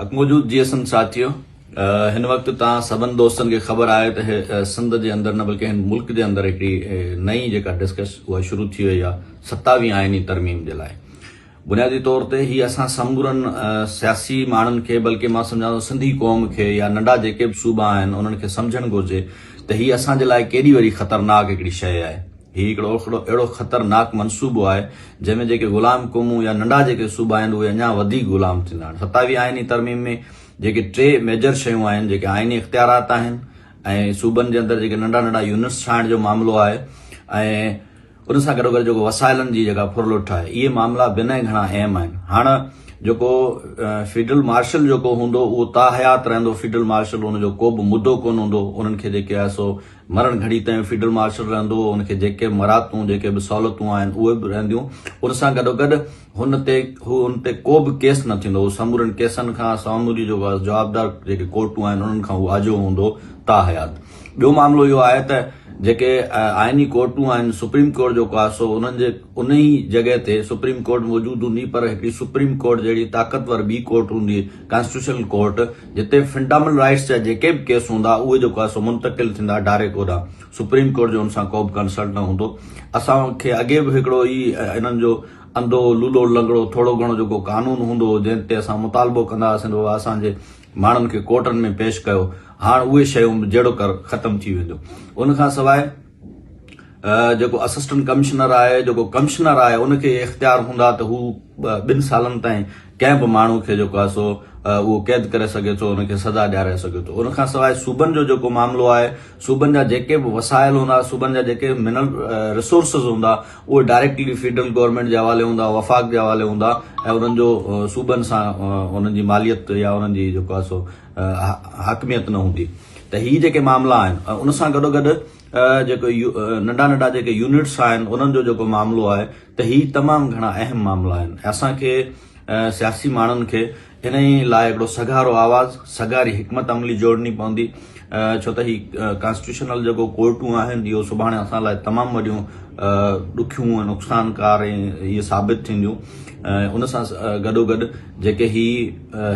اڳ موجود جي اسند ساٿيو هن وقت تان سڀن دوستن کي خبر آهي ته سنڌ جي اندر نه بلڪه هن ملڪ جي اندر هڪڙي نئين جيڪا ڊسڪس اها شروع ٿي وئي آهي ستاوي آئيني ترميم جي لاء بنيادي طور تي هي اسان سمورن سياسي ماڻهن کي بلڪه مان سمجهان ٿو سنڌي قوم کي يا ننڍا جيڪي به صوبا آهن انهن کي سمجهڻ گهرجي ته هي اسان جي لاء ڪيڏي وڏي خطرناڪ هڪڙي شيء آهي هي هڪڙو اهڙو خطرناڪ منصوبو آهي، جنهن ۾ جيڪي غلام قومون يا ننڍا جيڪي صوبا آهن، اهي اڃا وڌيڪ غلام ٿيندا. هاڻ ستاويهين آئيني ترميم ۾ جيڪي ٽي ميجر شيون آهن، جيڪي آئيني اختيارات آهن ۽ صوبن جي اندر جيڪي ننڍا ننڍا يونٽس ٺاهڻ جو معاملو آهي ۽ ان سان گڏوگڏ جيڪو وسائلن جي جيڪا ڦرلٽ آهي، اهي معاملا بنهه گهڻا اهم آهن. هاڻ جيڪو فيلڊ مارشل جيڪو هوندو، اهو تاحيات رهندو، فيلڊ مارشل ان جو ڪوبه مدو ڪونه هوندو، انهن کي جيڪي آهي سو مرڻ گهڙي تائين فيلڊ مارشل رهندو، هن کي جيڪي مراتون، جيڪي به سهولتون آهن، اهي به رهنديون. ان سان گڏوگڏ هن تي هو هن تي ڪو به ڪيس نه ٿيندو. هو سمورن ڪيسن کان ساموري جو جوابدار جيڪي ڪورٽون آهن، انهن کان هو آجو هوندو تاحيات. ٻيو معاملو اهو آهي ته جيڪي آئيني ڪورٽون آهن، سپريم ڪورٽ جيڪو آهي سو انهن جي انهي جڳهه تي سپريم ڪورٽ موجود هوندي پر هڪڙي سپريم ڪورٽ جهڙي طاقتور ٻي ڪورٽ هوندي، ڪانسٽيٽيوشنل ڪورٽ جتي فنڊامل رائيٽس جا جيڪي به ڪيس هوندا اهي جيڪو آهي سو منتقل ٿيندا ڊائريڪ اوڏان سپريم ڪورٽ جو ان سان ڪو به ڪنسرن نه هوندو اسان کي اڳي به هڪڙو هي انهن جو انڌو لولو لنگڙو ٿورو گهڻو جيڪو قانون هوندو هو جنهن تي اسان مطالبو ڪندا هئاسين بابا اسان جي ماڻهن کي ڪورٽن ۾ پيش ڪيو هاڻ اهي شيون به جهڙوڪر ختم ٿي وينديون ان کان سواء جيڪو اسسٽنٽ ڪمشنر آهي، جيڪو ڪمشنر آهي ان کي اهي اختيار هوندا ته هو ٻن سالن تائين ڪنهن به ماڻهو کي جيڪو آهي سو اهو قيد ڪري سگهي ٿو ان کي سزا ڏياري سگهي ٿو ان کان سواء صوبن جو جيڪو معاملو آهي صوبن جا جيڪي به وسائل هوندا صوبن جا جيڪي منرل رسورسز هوندا اهي ڊائريڪٽلي فيڊرل گورنمنٽ جي حوالي هوندا وفاق جي حوالي هوندا ۽ انهن جو صوبن سان انهن جي ماليت يا انهن جي جيڪو آهي سو حاڪميت نه هوندي ته هي جيڪي معاملا آهن ان سان گڏوگڏ جيڪو ننڍا ننڍا جيڪي يونٽس آهن انهن جو جيڪو معاملو آهي ته هي تمام گهڻا اهم معاملا آهن ۽ اسان کي سياسي ماڻهن کي انهي لاء هڪڙو سگهارو آواز سگهاري حڪمت عملي جوڙڻي پوندي ڇو ته هي ڪانسٽيٽيوشنل جيڪو ڪورٽون آهن اهو سڀاڻي اسان لاء تمام وڏيون ڏکيون ۽ نقصانڪار ۽ هي ثابت ٿينديون ان سان گڏوگڏ جيڪي هي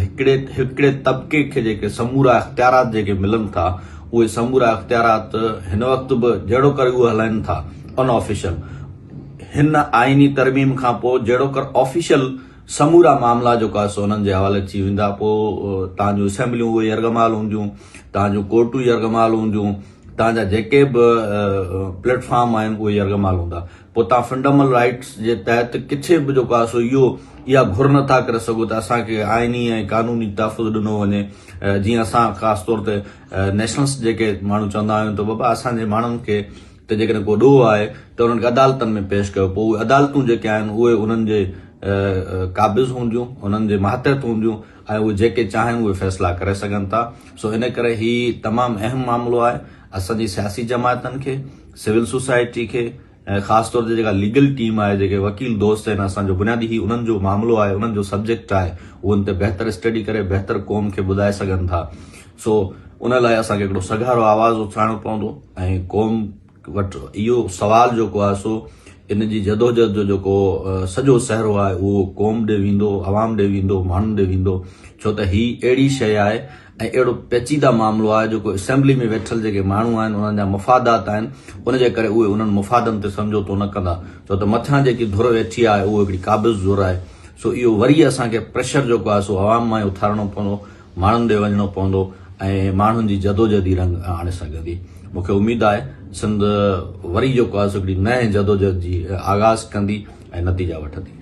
هڪڙي هڪڙي طبقي کي جيڪي سمورا اختيارات جيڪي ملن ٿا اهي سمورا اختيارات هن وقت به جهڙو ڪر اهو هلائن ٿا ان آفيشل هن آئيني ترميم کان پوء جهڙو ڪر آفيشل سمورا معاملا جو ڪاس انهن جي حوالي ٿي ويندا پوء تان جو اسيمبليون اهي يرغمال هونديون تان جو ڪورٽون يرغمال هونديون تان جا جيڪي به پليٽ فارم آهن اهي يرغمال هوندا پوء توهان فنڊامل رائيٽس جي تحت ڪٿي به جو ڪا سو اهو اها گهر نه ٿا ڪري سگهو ته اسان کي آئيني ۽ قانوني تحفظ ڏنو وڃي جيئن اسان خاص طور تي نيشنلس جيڪي ماڻهو چوندا آهيون ته بابا اسان جي ماڻهن کي ته جيڪڏهن ڪو ڏوهه آهي ته انهن کي عدالتن ۾ پيش ڪيو پوء اهي عدالتون جيڪي آهن اهي انهن جي قابض هونديون انهن جي ماتحت هونديون ۽ اهي جيڪي چاهن اهي فيصلا ڪري سگهن ٿا سو ان ڪري هي تمام اهم معاملو آهي اسان جي سياسي جماعتن کي، سول سوسائٽي کي ۽ خاص طور تي جيڪا ليگل ٽيم آهي، جيڪي وڪيل دوست آهن، اسان جو بنيادي هي انهن جو معاملو آهي، انهن جو سبجيڪٽ آهي، هو ان تي بهتر اسٽڊي ڪري بهتر قوم کي ٻڌائي سگهن ٿا، سو ان لاء اسان کي هڪڙو سگهارو آواز اٿارڻو پوندو ۽ قوم وٽ اهو سوال جيڪو آهي سو ان جي جدوجهد جو جيڪو سڄو سهرو آهي اهو قوم ڏي ويندو، عوام ڏي ويندو، ماڻهن ڏي ويندو، ڇو ته هي اهڙي شيء آهي. ۽ اهڙو پيچيده معاملو آهي جيڪو اسيمبلي ۾ ويٺل جيڪي ماڻهو آهن انهن جا مفادات آهن ان جي ڪري اهي انهن مفادن تي سمجهوتو نه ڪندا ڇو ته مٿيان جيڪي ڌر ويٺي آهي اهو هڪڙي قابض ڌر آهي سو اهو وري اسان کي پريشر جيڪو آهي سو عوام مان ئي اٿارڻو پوندو ماڻهن ڏي وڃڻو پوندو ۽ ماڻهن جي جدوجهد ئي رنگ آڻي سگهندي مون کي اميد آهي سنڌ وري جيڪو آهي سو هڪڙي نئين جدوجهد جي آغاز ڪندي ۽ نتيجا وٺندي.